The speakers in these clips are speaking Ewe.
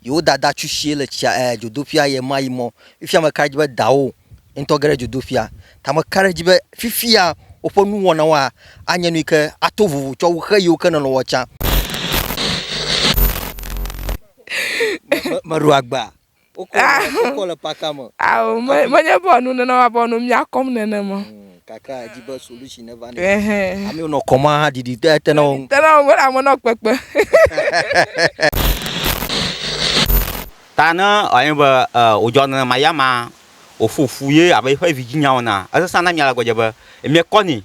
yewo dada tsu tsie le tsia ɛɛ dzodoƒia ɣe ma ɣi mɔ, Fifia meka ɖe edzi be dawò ŋutɔ ge ɖe dzodoƒia. Ta meka ɖe edzi be fifia woƒe nuwɔnawoa anye nuyike ato vovo tsɔ wu xe yiwo ke nèlɔ̃ wɔ tsã. Meɖo agba. Wokɔ le paka me. Ao, menye be enu nenema be nu mia kɔm nenema o. kakra edzi be solution ne va ne amewo nɔ kɔma ha didi te te na wo ŋu. te na wo ŋu wole ame nɔ kpekpe. ta ne anyi be wòdzɔ nenema ya ma wòƒo fu ye abe eƒe vidzinya ene esesẽ na mia le gbɔdze be miekɔ nɛ.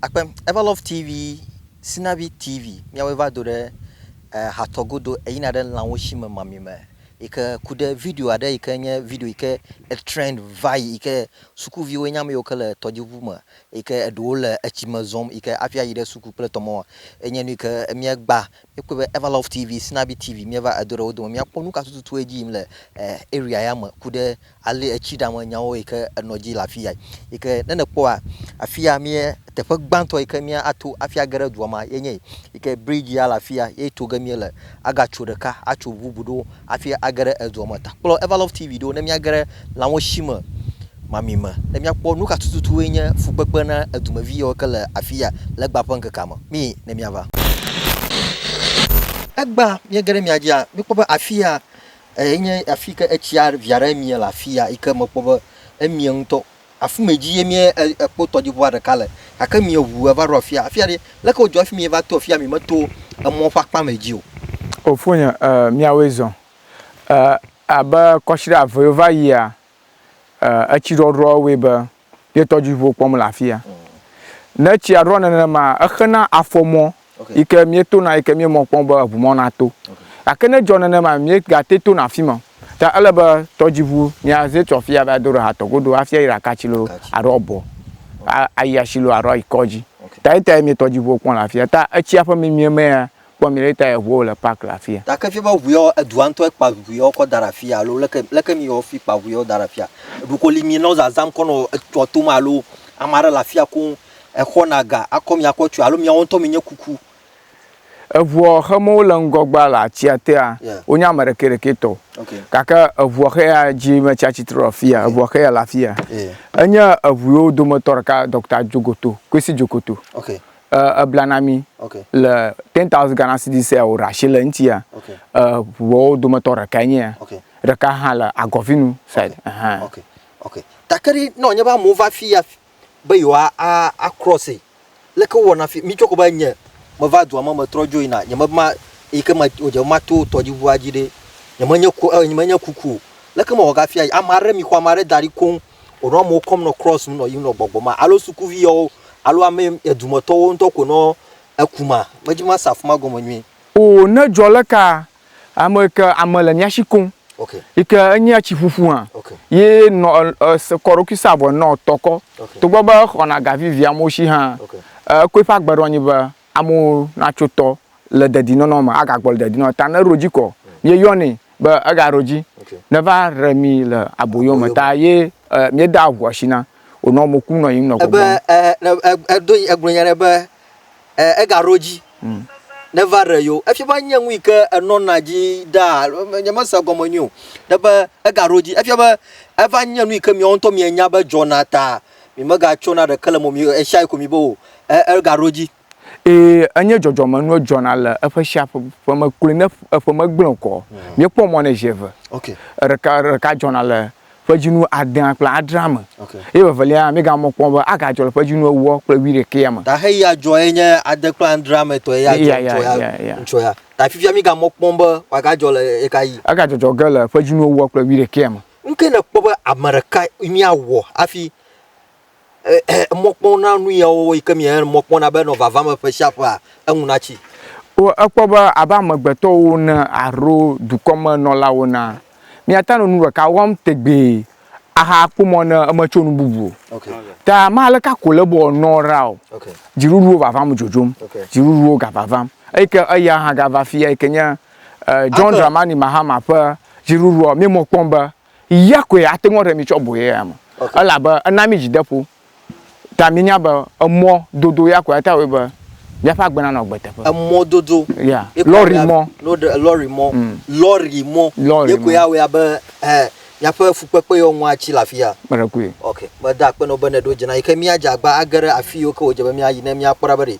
Akpe Everlove TV, Sinavi TV, míawoe va do ɖe ehatɔ godo eyina ɖe lãwo si me mamime yi ke ku ɖe video aɖe yi ke nye video yi ke etrend vayi yi ke sukuviwoe nye ame yiwo ke le tɔdziŋu me yi ke eɖewo le etsi me zɔm yi ke hafi ayi ɖe suku kple tɔmɔ enye nu yi ke míegba míekpɔe be Everlove TV, Sinabi TV míeva edo ɖe wo dome míakpɔ nu ka tututue edzi yim le e area ya me ku ɖe Ale etsi ɖame nyawo yi ke enɔ dzi le afi ya yi ke ne nèkpɔa, afi ya mía teƒe gbãtɔ yi ke míato hafi age ɖe dua me ye nye yi ke bridzi ya le afi ya ye to ge míele. Agatso ɖeka atso ŋu bubu ɖewo hafi age ɖe edua me. Ta kplɔ Evalove TV ɖo ne míage ɖe lãwesime mamɛ me ne míakpɔ nu ka tututue nye fukpekpe na edumevi yawo yi ke le afi ya le egbea ƒe ŋkekea me. Mí ne míava. Egbea míege ɖe mia dzia, míkpɔ be afi ya. Eyi nye afi yi ke etsia vi aɖe mie le afi ya yi ke mekpɔ be emie ŋutɔ. Afi ma dzi ye mía ekpɔ tɔdziŋua ɖeka le gake mia ŋu eva ɖo afi ya. Afi ya ɖi leke wodzɔ hafi mieva to afi ya miemeto emɔ ƒe akpa ma dzi o. O fonye e miawoe zɔ e abe kɔsiɖa eve yi wova yia e etsi ɖɔɖɔ wɔe be ye tɔdziʋuwo kpɔm le afia. Ne tsia ɖɔ nenema, exena afɔmɔ yi ke míetona yi ke míemɔ kpɔm be eŋumɔ nato. Gake ne edzɔ nenema míegate tona afi ma o. Ta ele be tɔdziʋu míaze tso afia va do ɖe hatɔ godo hafi ayi ɖe akatsi loo alo abɔ ayi asi loo alo ayi kɔdzi. Ta yetae mí tɔdziʋuwo kpɔm le afia. Ta etsia ƒe mimie mea, Kpɔ mìɖe ta eʋuɔ wole park le afia. Gake fia be ʋuiɔ edua ŋtɔe kpa ʋuiɔ kɔ daɖe afia alo leke leke miyɔ fi kpa ʋuiɔ daɖe afia ɖoko li mi nɔ zazam kɔ nɔ etɔ tom alo amaɖe le afia koŋ exɔna ga akɔ mi akɔ tsoe alo miawo ŋtɔ mi nye kuku. Eʋuɔ xe mɔ wole ŋgɔgbea le atsia tea wo nye ame ɖekɛ ɖekɛ tɔ gake eʋuɔ xe ya dzi me tsia tsitre ɖe afia eʋuɔ xe ya le afia enye eʋuiwo dometɔ ɖeka Doctor Jogoto Kwesi Jokoto Uh, ebla na mi okay. le 10,000 Ghana cedis ya wòɖe asi le eŋuti ya okay. uh, ʋuawo dometɔ ɖekae nye ya okay. ɖeka hã le agɔvinu side okay. Uh -huh. okay. okay. takeri ne wònye be amewo va fi ya be yewoa acrɔse leke wowɔna fi mi tsɔ ko be nye meva dua me metrɔ dzo yina nye mema eyi ke medze be mato tɔdziʋua dzi ɖe nyemenye ko eh, nyemenye kuku o leke mewɔ gafi ame aɖe mi xɔ ame aɖe da ɖi koŋ wònɔ amewo kɔm nɔ cross ŋu nɔ yiyim nɔ gbɔgbɔm ma alo sukuvi yawo alo ame edumetɔwo ŋutɔ koe nɔ eku ma. Medzi be mase afi ma gɔme nyuie. Oo, ne edzɔ le ka ame yi ke ame le mía shi koŋ yi ke enye etsi ƒuƒu hã ye nɔ se kɔ eɖokui sa vɔ nɔ tɔ kɔ togbɔ be exɔna ga vivi amewo shi hã, ekoe ƒe agbe ɖo anyi be Amewo natso tɔ le dedinɔnɔ me agagbɔ le dedinɔnɔ ta neɖo dzi kɔ ye yɔnɛ be ega ɖo dzi neva re mi le aboyo me ta ye e mi da ʋua shi na o nɔ mo ku nɔ yim nɔ gbɔgbɔ. Ebe e e edo egblɔ nya ɖe be e ega ɖo dzi neva re yo efi be nye nu yi ke enɔ na dzi da alo me nye me se gɔme nyuie o ɖe be ega ɖo dzi efia be eva nye nu yi ke miawo ŋutɔ mia nya be dzɔ na ta Mi mega tso na ɖeke le mo mi eshayi ko mi bo o. E er ga ro ji. E enye jɔjɔ me nuo jɔna le eƒe shia ƒe ƒe me kloe ne eƒe me gblẽ kɔ. Hmm. Mi kpɔ mɔ ne zi eve. Okay. Ɖeka ɖeka jɔna le ƒe dzi nu adea kple adrea me. Okay. Ye vevelia mi ga mɔ kpɔ be aga jɔ le ƒe dzi nu ewɔ kple wi ɖekea me. Ta he ya jɔ ye nye ade kple adrea me tɔ ye ya jɔ tɔ ya. Ŋtsɔ ya. Ta fifia mi ga mɔ kpɔ be wa ga jɔ le ye ka yi. Aga jɔjɔ ge le ƒe dzi nu ewɔ kple wi ɖekea me. Nukae nèkpɔ be ame ɖeka míawɔ hafi mɔkpɔm na nu yawo wɔwɔ yike mía mɔ kpɔm na be nɔ vava me ƒe sia ƒea, eŋu natsi? O, èkpɔ be abe amegbetɔwo ene alo dukɔmenɔlawo ene, míate ŋu anɔ nu ɖeka wɔm tegbee ahakpɔ mɔ ne metso nu bubu o. Ta me aleke ko le be wòanɔ ɖa o, dziɖuɖuwo vavam dzodzom, dziɖuɖuwo gavavam, eyi ke eya hã gava afi yike nye, eh, John Dramani Mahama ƒe dziɖuɖua mi mɔ kpɔm be ya koe ate ŋu ɖe mi tsɔ boye ya me elabe ena mi dzideƒo ta mi nya be emɔ dodo ya koe ate ŋu be míaƒe agbe nanɔ agbe teƒe. Emɔ dodo. Ya. Lɔri mɔ. Lɔri mɔ. Mm. Lɔri mɔ. Lɔri mɔ. Ye koe awɔe abe eh, míaƒe fukpekpe yɔ ŋua tsi le afi ya. Kpeɖekui. Ok. Meda akpe na wo be ne ɖo dze na yi ke míadze agba age ɖe afi yiwo ke wòdze be míayi ne míakpɔ ɖa be ɖe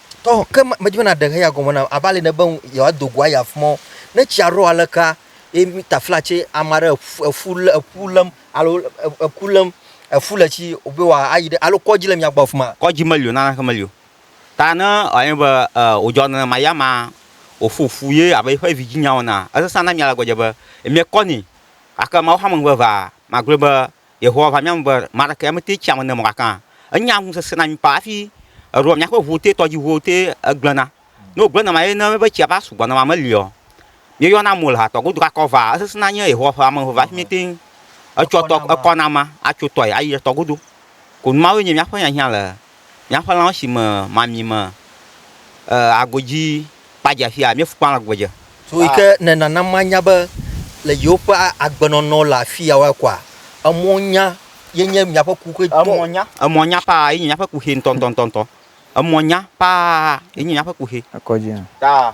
Tɔ ke ma medzi be na ɖe heya gɔme nam ava li ne be ŋ yewoa do go ayi afi mɔ. Ne tsia ɖɔ aleka ye mi ta fla tse ama ɖe eƒu eƒu le eƒu lém alo e eku lém eƒu le tsi o be woa ayi ɖe alo kɔdzi le mia gbɔ afi ma. Kɔdzi meli o naneke meli o. Ta ne anyi be e wodzɔ nenema ya ma woƒu ƒu ye abe eƒe vi dzi nya wɔna. Esesã na mia le gbɔdze be emia kɔ nɛ. Gake Mawu xame ŋugbe vaa magblɔe be Yehowa va mía ŋu be ame aɖeke ya mete tsi ame ne mɔ gakã. Enye agu sesẽ na mí kpa hafi eɖoa míaƒe ʋuwo te, tɔdziʋuwo te egblẽna. Ne wògblẽ nenema ye ne míebe tsia va sugbɔ nenema meli o. Míeyɔna mo le ha tɔ godu gake evea esesẽna nye Yehowa ƒe ame eve hafi míete ŋu etsɔa tɔ ekɔna amea atso tɔe ayi etɔ godu. Konu mawoe nye míaƒe hiahiã le Míaƒe lãwo si me mami me agodzi kpa dze afia míeƒu kpa agbe dze. So yi ke ne nana manya be le yewoƒe agbenɔnɔ le afi ya wa kɔa, emɔ nya ye nye miaƒe kuxi tɔ. Emɔ nya, emɔ nya paa ye nye miaƒe kuxi ŋutɔŋutɔŋutɔ. Emɔ nya paa ye nye miaƒe kuxi. Ekɔdzi hã. Ta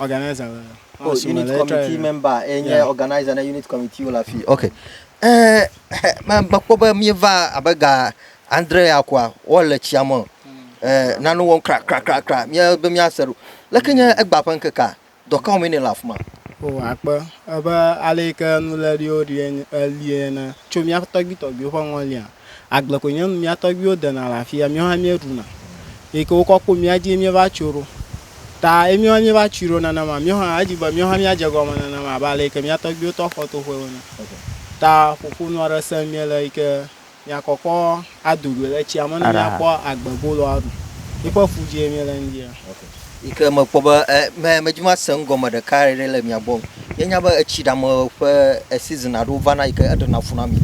organizer le oh, asime unit committee member enye yeah. organizer ne unit committee wole afi ok eh, mekpɔ be mieva abe ga andre ya koa wole tsia me eh, nane wɔm krakrakrakra be miase ɖo leke nye egba ƒe ŋkekea dɔkawo mene le afi ma o akpe ebe ale yi ke nuléɖiwo ɖi elie ne tso míaƒe tɔgbuitɔgbuiwo ƒe ŋɔlia Agble koe nye nu. Mía tɔgbuiwo dena le afi ya, míawo hã míeɖuna. Eyi ke wokɔ kpo mía dzie míeva tso ɖo. Ta eye míawo hã míeva tsui ɖo nenema. Míawo hã edi be míawo hã míadze egɔme nenema abe ale yi ke mía tɔgbuiwo tɔ xɔ toƒewo ene. Ta ƒoƒonu aɖe sem míele yi ke míakɔkɔ ado goe le tsia me ne míakpɔ agbeboloa ɖu. Yiƒe fu dzie míele ŋdi ya. yi ke mekpɔ be e me medzi mase nu gɔme ɖeka ɖe le mia gbɔ o. Mienya be etsi ɖe ame ƒe season aɖewo vana yi ke eɖena fu na mi.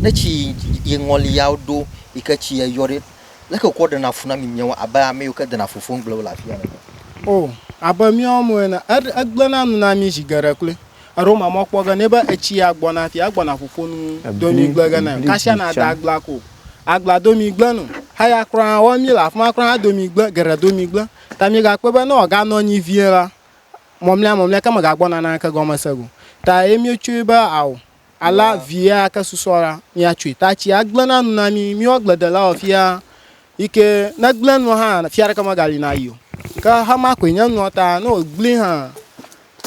Ne tsi yi ŋɔli ya ɖo yi ke tsi eyɔ ɖe, leke wokɔ ɖena fu na mi miawo abe ame yiwo ke dena fu fofom gblẽ wo le afia ene? O, abe míawo amewo ene. Eɖe egblẽna nu na mí zi geɖe kloe. Eɖo ma mɔ kpɔ ge ne be etsi ya gbɔna fi agbɔna ƒoƒo nu do mi gble ge ne kasia na da agla ko agla do mi gble nu haya kura wɔ mi le afima kura hã do mi gble geɖe do mi gble ta mi ga kpe be ne ɔga nɔ anyi vie la mɔmlɛ mɔmlɛ ke me ga gbɔna na ke gɔme se go ta ye mi tsui be awo ala vie ake susɔ la mi atsui ta tsi agble na nu na mi mi wɔ gble de la wɔ fia yike ne gble nu hã fia ɖe ke me ga li na yi o ke hama koe nye nua ta ne o gble hã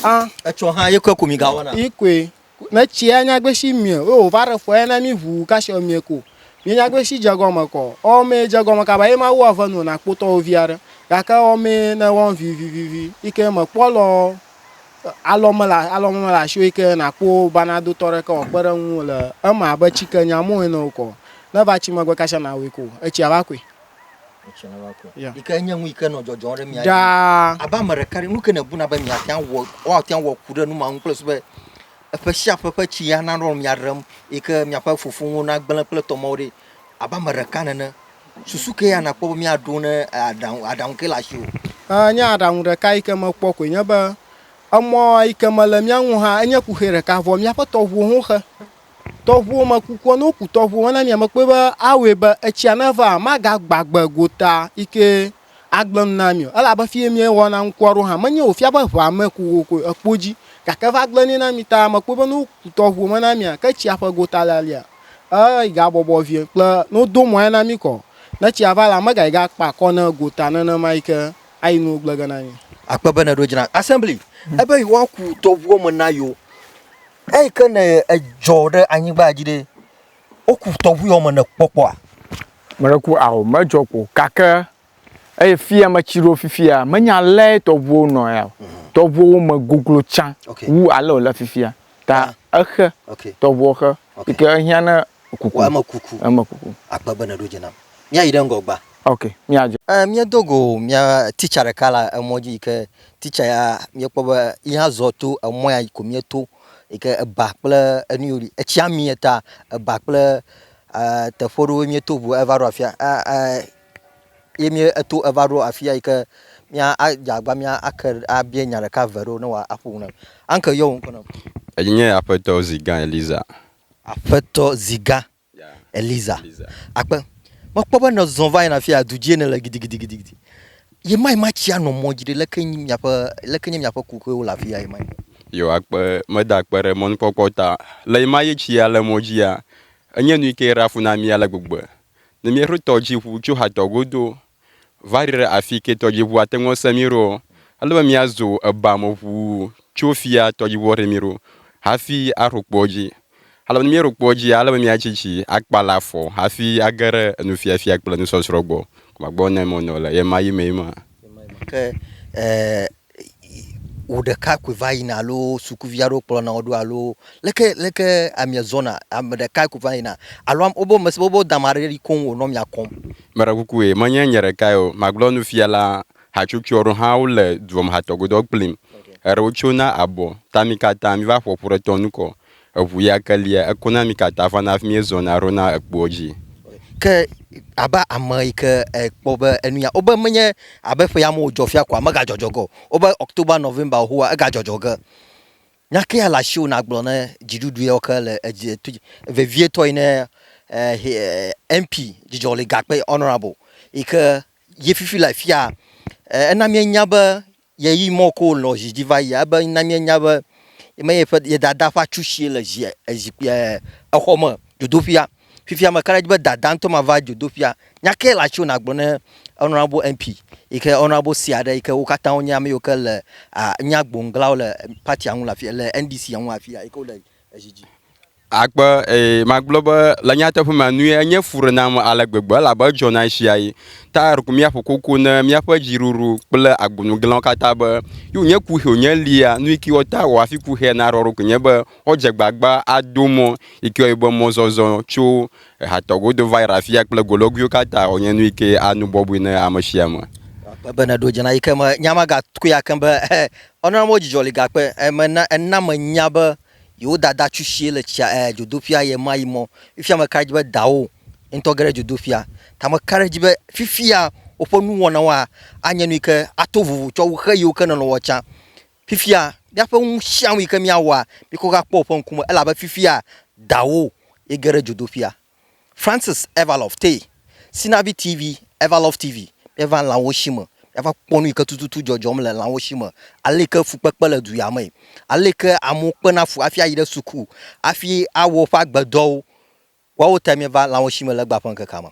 Ah, etsɔ hã yekwe ko mi ga wana. Yekwe. Ne tsia nyagbe si mie, o va re fɔ ena mi ʋu kasi o mie ko. Mi nyagbe si jegɔ me kɔ. O me jegɔ me kaba ye ma wu ave nu na kpotɔ o vi are. Ga ke o me ne wɔn vi vi vi vi. Ike me kpɔ lɔ alɔ me la alɔ me la sio ike na kpo bana do tɔ re ke o kpe re nu le ema be tsi ke nya mo ene o kɔ. Ne va tsi me gbe kasi na o ko. Etsi ava kwe. ɖaa abe ame ɖeka ɖe nuke nebuna be miate ŋu awɔ woate ŋu awɔ ku ɖe nu ma ŋu kple susu be eƒe sia ƒe ƒe tsi ana nɔ mia ɖem yi ke miaƒe fofowo nagblẽ kple tɔmewo ɖi abe ame ɖeka nene. Susu kae ya nakpɔ be miaɖo ne aɖaŋu aɖaŋu ke le asiwò? E nye aɖaŋu ɖeka yi ke mekpɔ koe nye be emɔ yi ke mele mía ŋu hã enye kuxi ɖeka vɔ míaƒe tɔŋuwo ho xe. Tɔʋuwo me kukua, ne woku tɔʋuwo hã na mia, mekpɔe be awɔe be etsia neva magagbagbe gota yike agblẽ nu na mi o. Elabe fiye miewɔna ŋkua ɖo hã, menye wòfia be ʋea me ku wo koe ekpo dzi, gake eva gblẽ nɛ na mi ta mekpɔe be ne woku tɔʋuwo me na mia, ke tsia ƒe gota lalia, eyi gabɔbɔ vie kple ne wodo mɔe na mi kɔ, ne tsia va la, megayi gakpa akɔ ne gota nenema yike ayi nuwo gblẽ ge na mi. Akpe be nèɖo dzra Assembly ebe yewoaku tɔʋuwo me na yewo. Eyi ke ne edzɔ ɖe anyigba dzi ɖe, woku tɔʋuiɔ me nèkpɔ kpɔa? Mele ku ao, medzɔ kpo gake eye fia metsi ɖo fifia, menye alea tɔʋuwo nɔ ea o. Tɔʋuwo me goglo tsã wu ale wòle fifia ta exe, tɔʋuɔ xe yi ke ehiã ne kuku. Eme kuku. Eme kuku. Akpe be nèɖo dzi nam. Míayi ɖe ŋgɔ gbã. Ok, míadze. Ɛɛ, míedo go mía teacher ɖeka le emɔ dzi yi ke Titsa ya míekpɔ be ye hã zɔ to emɔ ya ko míeto yi ke eba kple enu yiwo li. Etsia mi eta eba kple e teƒe ɖewo míeto ŋu eva ɖo afia e e ye mí eto eva ɖo afi ya yi ke mía adze agbagba mía ake abia nya ɖeka eve ɖewo ne woaƒo nu na mí. Uncle yɔ wò ŋkɔ na mí. Enye nye Aƒetɔ Zigã Eliza. Aƒetɔ Zigã Eliza, Akpe, mekpɔ be nèzɔ va yina afia, du dzie nèle gidigidigidi. Ye ma, ye ma tsi anɔ mɔ dzi ɖe, leke nyi miaƒe, leke nye miaƒe kuxiwo le afia ye ma? Yo, Akpe, meda akpe ɖe mɔnukpɔkpɔ ta. Le ye ma ye tsi ya le mɔ dzia, enye nu yi ke ɖe afu na mí ale gbegbe. Ne míeɖo tɔdziʋu tso Hator godo Va ɖi ɖe afi ke tɔdziʋu ate ŋu ase mí ɖo. Ele be míazo eba me ʋu tso fia tɔdziʋu aɖe mí ɖo hafi aɖo kpoa dzi. Ale be ne míeɖo kpoa dzia, ele be míatsi tsi akpala afɔ hafi age ɖe enufiafia kple enusɔsrɔ̃ gbɔ. Gbɔgbɔ nɔ eme wònɔ le ɣemaɣi mee ma. Ke e. wò ɖekakpui va yina alo sukuvi aɖewo kplɔna wò ɖo alo leke leke amia zɔna ame ɖeka koe va yina alo wobe ame si wobe dame aɖe li koŋ wònɔ amia kɔm. Meɖekukue menye nye ɖekae o, magblɔ nu fiala, hatsotso aɖewo hã wole dua me hatɔgodɔ kplim. Eɖewo tsona abɔ ta mi katã miva ƒoƒu ɖe tɔnu kɔ. Eŋu ya ke lia eku na mi katã vana hafi miezɔna ɖona ekpoa dzi. Ke abe ame yi ke ekpɔ be enu ya wobe menye abe ƒe ya me wodzɔ fia koa, megadzɔdzɔ ge o. Wobe October, November xoxo wa, egadzɔdzɔ ge. Nya ke ya le asiwò ne agblɔ ne dziɖuɖu yawo ke le edzi to dzi vevietɔ yi ne MP Dzidzɔli Gakpe Honourable yi ke ye fifi le afia. Ena mienya be Yeyi mɔ ko wòlɔ̃ zi dzi va yia, ebe na míenya be yeme ye ƒe, ye Dadaa ƒe atsu sie le zi, zikpui, exɔ me, dzodoƒea. Fifia meka ɖe edzi be Dadaa ŋutɔ mava dzodoƒea. Nya kae le atsu nàgblɔ ne Honourable MP yi ke Honourable sea ɖe yi ke wo katã wonye ame yiwo ke le, nye agboŋglawo le party-a ŋu le afi, le NDC-a ŋu le afi ya yi ke wole zi dzi. Akpe, ee, magblɔ be le nyateƒe me nue, enye fu ɖe nam ale gbegbe elabe edzɔna ɣesiaɣi. Tayar ku míaƒo koko ne míaƒe dziɖuɖu kple agbonuglãwo katã be, Yo nye kuxi wònye lia, nuyike wɔ ta wɔ hafi kuxia naɖɔ eɖokui nye be woadze agbagba ado mɔ, yike wɔe be mɔzɔzɔ tso ehatɔ godo va yi ɖe afia kple golɔguiwo katã wònye nuyike anu bɔbɔe ne amesiame. Akpe be nèɖo dze na yike me nya ma gatkui akem be, Ɔnana mɔ dzidzɔ li gakpe, ena, ena menya be Yewo dada tsu shie le tsia ɛɛ dzodoƒia ɣemaɣi mɔ, Fifia meka ɖe edzi be dawò ŋutɔ ge ɖe dzodoƒia. Ta meka ɖe edzi be fifia woƒe nuwɔnawoa anye nu yi ke ato vovo tsɔ wu xe yiwo ke nèlɔ̃a tsã. Fifia míaƒe nu sia nu yi ke míawɔa, míkɔ ge akpɔ wò ƒe ŋkume elabe fifia dawò ye ge ɖe dzodoƒia. Francis Evalov Tee, Sinavi TV, Evalov TV, Míeva lãwo shi me, míava kpɔ nu yi ke tututu dzɔdzɔm le lãwo shi me, ale yi ke fukpekpe le du ya mee, ale yi ke amewo kpena fu hafi ayi ɖe suku hafi awɔ woƒe agbedɔwo. Woawo tae míeva lãwo shi me le egbea ƒe ŋkekea me.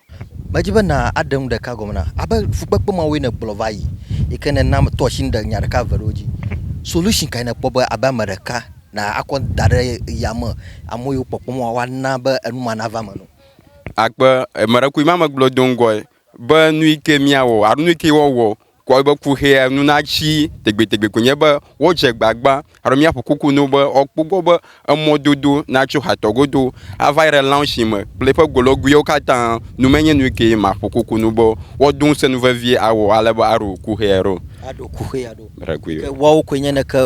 Medi be nàɖe nu ɖeka gɔme nam. Abe fukpekpe mawoe nègblɔ va yi yi ke nèna meto asi nya ɖeka eve ɖewo dzi. Solution kae nèkpɔ be abe ame ɖeka na akɔ da ɖe yame. Ame yiwo kpɔkpɔm woa, woana be enu ma nava eme na wo. Akpe emeɖekui ma megblɔ do ŋgɔe be nu yi ke míawɔ alo nu yi ke woawɔ kɔ eƒe kuxia nu natsi tegbetegbe koe nye be woadze agbagba alo míaƒo kuku na wo be woakpɔ egbɔ be emɔdodo natso hatɔ godo ava yi ɖe lãwo si me kple eƒe golɔguiwo katã nu menye nu yi ke maƒo kuku na wo be woado ŋusẽ nu vevie awɔ ale be aɖo kuxia ɖo. Aɖo kuxia ɖo. Ke woawo koe nye ne ke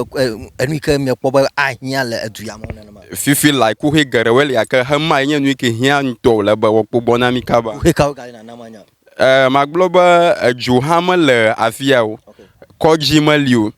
enu yi ke miekpɔ be ahiã le edu ya me nenema. Fifi lae kuxi geɖewoe li gake xemae nye nu yi ke hiã ŋutɔ wòle be woakpɔ gbɔ na mí kaba. Kuxi kawo gale nana manya o? Ɛɛ, magblɔ be edzo hã mele afi ya o, kɔdzi meli o.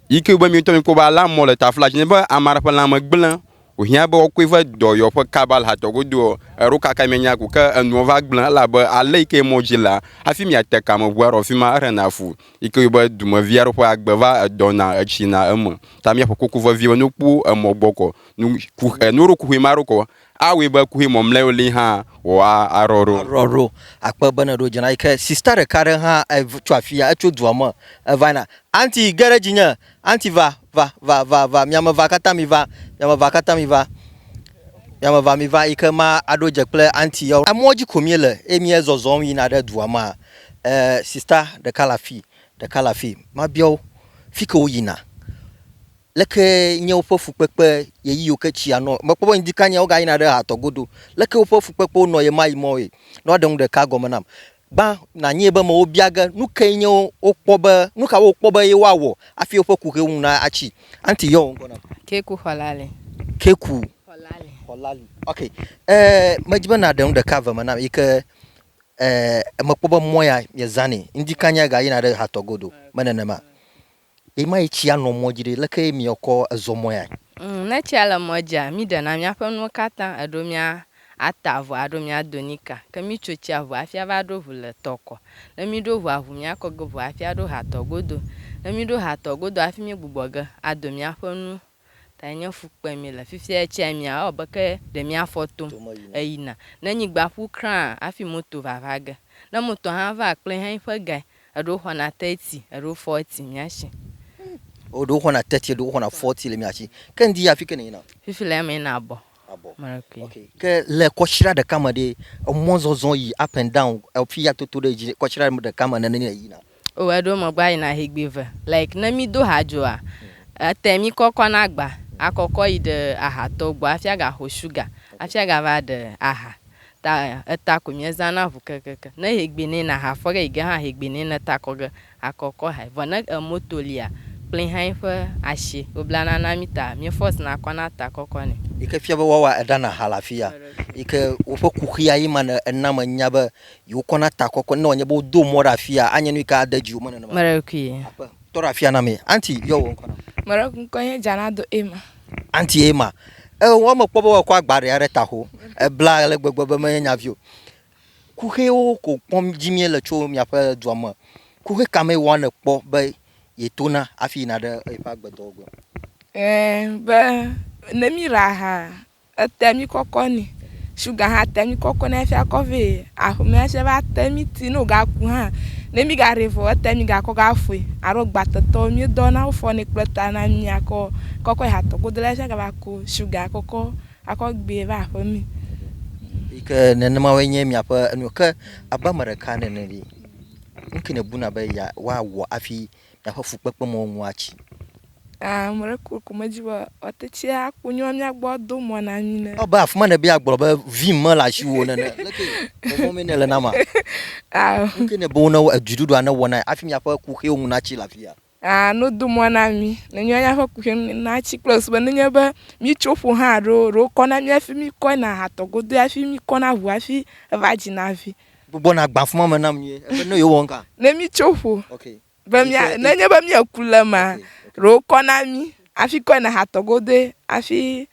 Yi ke be míawo ŋutɔ míekpɔ be alea mɔ le tafla dzi ne be ame aɖe ƒe lãme gblẽ Wòhiã be wòakɔe va dɔ yewo ƒe kaba le hatɔ godo ɔ, eɖo kaka mianya ku ke enuɔ va gblẽ, elabe ale yi ke mɔ dzi lea, hafi miate ka me ŋu aɖɔ fi ma eɖena fu, yi ke yɔ be dumevi aɖe ƒe agbe va edɔna etsina eme. Ta míaƒo koko vevie be ne wokpɔ emɔ gbɔ kɔ, nu ku ɛ, ne woɖo kuxi ma ɖo kɔ, awɔe be kuxi mɔmlɛwo li hã wɔ a, aɖɔ ɖo. Aɖɔ ɖo. Akpe be ne ɖo dze na yi ke sista ɖeka aɖe hã etsɔ afia, etso dua me eva yina. Auntie, ge ɖe dzinye, Aunty va, va, va, va, va, miame va katã mi va, miame va katã mi va, miame va mi va, yike ma aɖo dze kple aunty yawo. Emɔ dzi ko mi le eye mi zɔzɔm yina ɖe dua ma. Eh, sister ɖeka le afi, ɖeka le afi, ma bia wo, fike wo yina? Leke nye woƒe fukpekpe ɣeyiɣiwo ke tsia nɔ, me kpɔ be ŋdi kanyɛ wo ga yina ɖe ha tɔ godo. Leke woƒe fukpekpewo nɔ ɣemaɣi mɔ ye? Ne woa ɖe nu ɖeka gɔme nam. Gbã nanyee be amewo bia ge nu kae nye wokpɔ be, nu ka wokpɔ be ye woawɔ hafi woƒe kuxi ŋu natsi. Aunty yɔ wò ŋkɔ nam. Keku Xɔlali. Keku. Xɔlali. Xɔlali. Ok. E, medi be nàɖe nu ɖeka eve me nam yi ke e, mekpɔ be mɔ ya miezãnɛ. Ŋdi kanya ga yina ɖe hatɔ godo. Me nenema. Ɣe ma ɣi tsia nɔ mɔ dzi ɖe, leke ye mia kɔ ezɔ mɔ ya? Ŋ, ne tsia le mɔ dzia, mi ɖe na mia ƒe nuwo katã, eɖo mia ata avɔ alo mia do nika. Ke mi tso tsia ʋu hafi ava ɖo ʋu le tɔ kɔ. Ne mi ɖo ʋua ʋu, mia kɔ ge ʋu hafi aɖo ha tɔ godo. Ne mi ɖo ha tɔ godo hafi mi gbugbɔ ge ado mia ƒe nu Gake nye fu kpem míele fifia tsia mía ewɔ abe ke ɖe mía fɔ tom eyina. Ne nyigba ƒu krã hafi moto va va ge. Ne moto hã va kple hɛn ƒe gae, eɖewo xɔna teti, eɖewo fɔti mía si. Eɖewo xɔna teti, eɖewo xɔna fɔti le mía si. Ke ŋdi afike nèyina? Fifi le eme yina abɔ. Okay. Ke le kɔshira ɖeka me ɖe, emɔ zɔzɔ yi up and down, efi ya toto ɖe dzi kɔshira ɖeka me nene yi na. O eɖo me gba yi na hegbe ve. Like ne mi do hadzoa, ete mi kɔkɔ na gba, a kɔkɔ yi ɖe aha tɔ gbɔ afi a ga xo sugar, afi a ga va ɖe aha. Ta eta ko mi zã na ŋu kekeke. Ne hegbe ne na ha fɔ ge yi ge hã hegbe ne na ta kɔ ge Akɔ kɔ hai, vɔ ne emɔ to lia, kplin hai ƒe ashi woblana na mi ta, mi fɔs na kɔ na ta kɔkɔ nɛ. Yi ke fia be woawa eɖa na ha le afi ya, yi ke woƒe kuxia ye ma ne ena me nya be yewo kɔ na ta kɔkɔ ne wòanye be wodo mɔ ɖe afi ya, anye nu yi ke ade dzi wo me nenema. Meɖekui. Aƒe, tɔ ɖe afi ya na mi. Anti, yɔ wò ŋkɔ na mi. Meɖekui ŋkɔ nye Jana do Emma. Anti Emma, e, wɔ me kpɔ be woakɔ agba ɖe ya ɖe taxo, ebla ale gbegbe be menye nya vi o. Kuxewo ko kpɔm dzi míele tso miaƒe dua me. Kuxe ka mee wɔ nèkpɔ be yetona hafi yina ɖe eƒe agbedɔwɔgbe? Ẽ, be ne míɖa aha, etea mí kɔkɔ nɛ. Shuga hã tea mí kɔkɔ nɛ hafi akɔ vɛ. Aƒe me esia va te mí ti ne wògaku hã, ne mígaɖee vɔ o, etea mígakɔ ge aƒoe. Alo gbatetɔwo, míedɔna wofɔnɛ kple ta na mí akɔ kɔkɔe hatɔ godo la hafi agava ku shuga kɔkɔ Akɔ gbee va aƒe mi. Yi ke nenema woe nye miaƒe enu ke abe ame ɖeka nene ɖi. Nu ke nèbuna be ya woawɔ hafi miaƒe fukpekpemɔ̃ ŋu atsi? Aa ame ɖe ko ko medzi be woate tsi aku nyɔ mía gbɔ ado mɔ̃ na mí ne. Ewɔ abe afi ma nèbe yeagblɔ be vim mele asiwò o nene. Leke vɔvɔ̃ mee nèle nam a? Ao. Nu ke nèbe wo ne wo, edziɖuɖua newɔ na ye hafi miaƒe kuxiwo ŋu natsi le afia? Ah, no do mɔ na mi. Ne nyɔ nya ƒe kuxem na tsi kple sube ne nye be mi tso ƒo hã ɖo ɖo kɔ na mi afi mi kɔ na hatɔ godo afi mi kɔ na ʋu afi eva dzi na vi. Gbogbo na gba fuma me na mi ye. Ebe ne yo wɔn ka. Ne mi tso ƒo. Okay. Be mi ne nye be mi eku le ma ɖo kɔ na mi afi kɔ na hatɔ godo afi.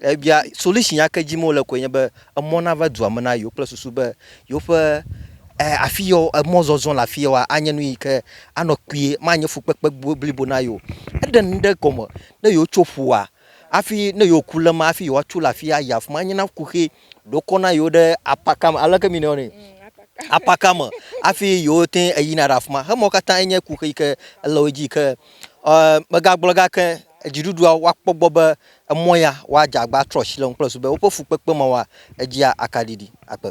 Ebia solution ya ke dzim wole koe nye be emɔ nava dua me na yewo kple susu be yewoƒe eh, afi yɔ emɔ zɔzɔ le afi yɔa anye nu yi ke anɔ kpuie, manye fukpekpe blibo na yewo. Eɖe nu ɖe gɔme ne yewotso ƒua hafi ne yewoku le ma hafi yewoatso le afi ayi afi ma anye na kuxi ɖokɔ na yewo ɖe apaka me aleke mi nɔ ne apaka me hafi yewote eyina ɖe afi ma. Hemɔ katã enye kuxi yi ke ele wo dzi yi ke eh, megagblɔ gake dziɖuɖua woakpɔ gbɔ be Emɔ ya woadze agba atrɔ asi le ŋu kple zu be woƒe fukpekpe ma wɔa edzia akaɖiɖi akpe.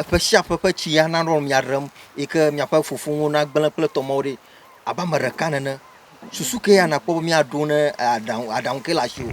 Eƒe sia ƒe ƒe tsi ya nanɔ mia ɖem yi ke miaƒe fofonuwo nagblẽ kple tɔmewo ɖi abe ame ɖeka nene. Susu ke ya nakpɔ be miaɖo ne aɖaŋu aɖaŋu ke le asiwò.